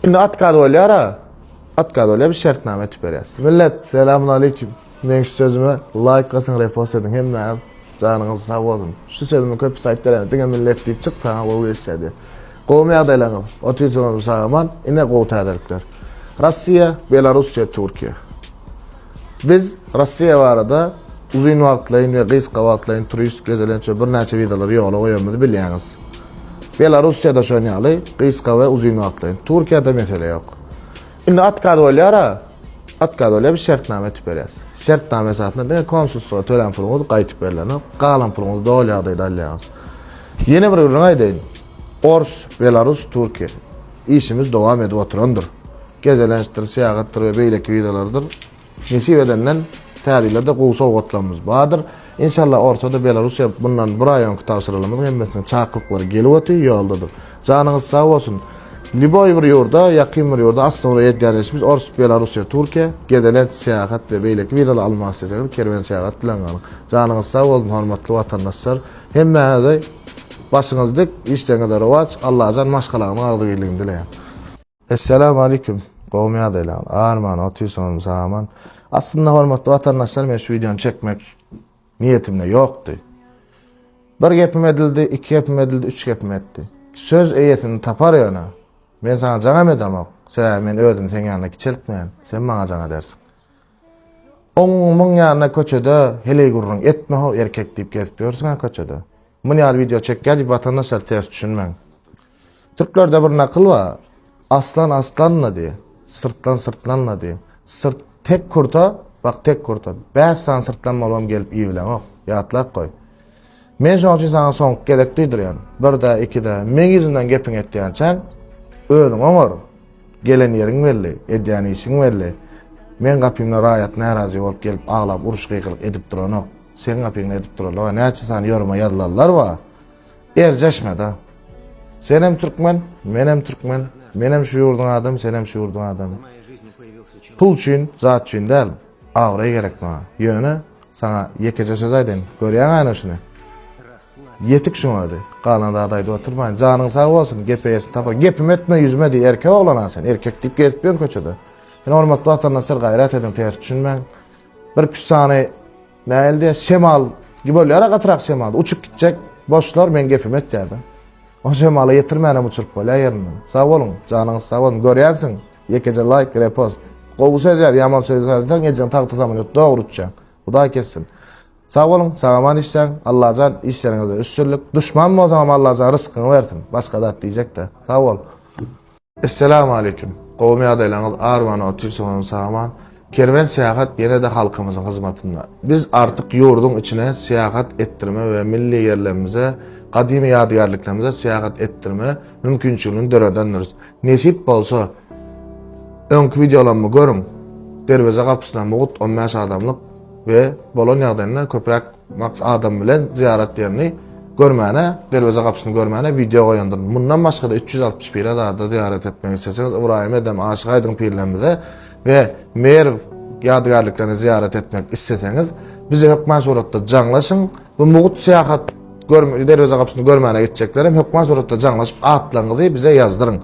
Indi otkaz bolýara. Otkaz bolýa biz şertnama etip berýäs. Millet selamünaleyküm. Meň şu sözüme laýk basyň repost ediň hemmäňiz janyňyz sag bolsun. Şu sözümi köpüsi aýt beräýme diňe millet diýip çyk saňa gowy geçýär diýip. Gowmy ýagdaýlaňyz? Otyrsyňyzmy sag aman? Ine gowy täzelikler. Rossiýa, Belarussiýa, Türkiýe. Biz Russiýa barada uzyn wagtlaýyn we gysga wagtlaýyn turist, gezelenç we birnäçe wizalary ýola goýanymyzy bilýäňiz. Belarussiýa-da şon ýaly gysga we uzyn wagtlaýyn. Türkiýede mesele ýok. Indi otkaz bolýar-a, otkaz bolýar, biz şertnama etip berýäs. Şertnama esasynda diňe konsulstwa tölen puluňyz gaýtyp berilenok, galan puluňyzy doly ýagdaýda alýaňyz. Ýene bir gürrüň aýdaýyn. Ors, Belarus, Türkiýe. Işimiz dowam edip oturandyr. Gezelençdir, syýahatdyr we beýleki wideolardyr. Nesip edenden tä ýylda-da gowy sowgatlarymyz bardyr. Inşallah ortada Belarussiýa mundan bir aý öňki tabşyrylanymyz hemmesiniň çaklyklary gelip otyr, ýoldadyr. Janyňyz sag bolsun. Lýuboý bir ýurda, ýakyn bir ýurda asla ugra edýän işimiz ors, Belarussiýa, Türkiýe, gezelenç, syýahat we beýleki wideolar almak isleseňiz kerwen syýahat bilen galyň. Janyňyz sag bolsun hormatly watandaşlar. Hemmäňize başyňyz dik, işleriňizde rowaç, Allajan maşgalaňyzyň agzybirligini dileýän. Essalamu aleykum gowmy ýagdaýlaňyz arman otyrsyňyzmy sag aman aslynda hormatly watandaşlar men şu wideony çekmek niýetimde ýokdy bir gepim edildi iki gepim edildi üç gepim etdi söz eýesini tapar ýöne men saňa jaňam edemok sebäbi men özümi seň ýanyna kiçeltmeýän sen maňa jaň edersiň Oň muň ýanyna köçede heleý gürrüň etme how erkek diýip gezip ýörsüňä köçede. Mun ýaly wideo çekýä diýip watandaşlar ters düşünmäň. Türklerde bir nakyl bar. Aslan aslanla diý. Syrtlan syrtlanla diý. Syrt tek kurta, bak tek kurta. Bäş sany syrtlan bolubam gelip iýibileňok. Ýatlap goý. Men şoň üçin saňa soňky gezek duýdurýan. Bir-de, iki-de, meň ýüzümden gepiňi etýänçäň, özüň oňar. Gelen ýeriň belli, edýän işiň belli. Meň gapymda raýat närazy bolup gelip aglap uruş-gygyryk edip duranok. Seň gapyňda edip duralaga näçe sany ýoruma ýazylanlar bar. Erjeşme-de. Senem türkmen, menem türkmen. Menem şu ýurduň adamy, senem şu ýurduň adamy. Pul üçin, zat üçin däl. Abraý gerek maňa. Ýöne, saňa ýekeje söz aýdaýyn. Görýäňäni şuny? Ýetik şuň özi. Galan zady aýdyp oturmaýyn. Janyň sag bolsun, gep eýesini tapar. Gepimi etme, ýüzüme diý. Erkek oglan-a sen. Erkek diýip gezip ýörüň köçede. Sen hormatly Watandan syr gaýrat ediň, ters düşünmäň. Bir küs sany nähili diýer, şemal gibi bolýar-a gatrak şemal. Uçup gitjek. Boşlar, meň gepimi etýär-de. O şemala ýetirmänem uçuryp bolýar ýerinden. Sag boluň, janyňyz sag bolsun. Görýänsiň. Ýekeje laýk, repost. Gowy söz ýaz, ýaman söz ýazsaň ejeň tagty samolýot dogry uçýar. Hudaý kessin. Sag boluň, sag-aman işläň. Allajan işleriňizde üstünlik. Duşman bolsaňam Allajan ryskyňy bersin. Başga zat diýjek-de. Sag bol. Esselamu aleyküm. Gowmy ýagdaýlaryňyz Arman otyrsyňyzmy sag-aman. Kerwen Syýahat ýene-de halkymyzyň hyzmatynda. Biz artyk ýurduň içine syýahat etdirme we milli ýerlerimize, gadymy ýadygärliklerimize syýahat etdirme mümkinçiligini döredendiris. Nesip bolsa, öňki wideolarmy görüň, derweze-gapysyna mugt on bäş adamlyk we bolan ýagdaýynda köpräk Maks adam bilen zyýarat ýerini görmäne, derweze gapysyny görmäne wideo goýandyryn. Mundan başga-da üç ýüz altmyş pire zada zyýarat etmek isleseňiz Ybraýym Edem Aşyk Aýdyň pirlerimize we Merw ýadygärliklerine zyýarat etmek isleseňiz bize hökman suratda jaňlaşyň. Bu mugt syýahat görme derweze gapysyny görmäne gitjeklerem hökman suratda jaňlaşyp atlaryňyzy bize ýazdyryň.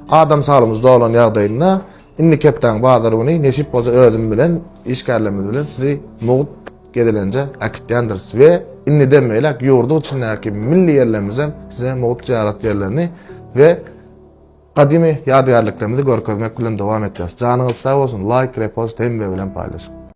Adam saglygyňyz dolan ýagdaýynda indi kepdäň bazar güni nesip bolsa özüm bilen işgärlerimiz bilen sizi mugt Gezelenje äkitýändiris we indiden beýläk ýurduň içindäki milli ýerlerimizem size mugt zyýarat ýerlerini we gadymy ýadygärliklerimizi görkezmek bilen dowam etjäs. Janyňyz sag bolsun, laýk, repost, hemme bilen paýlaşyň!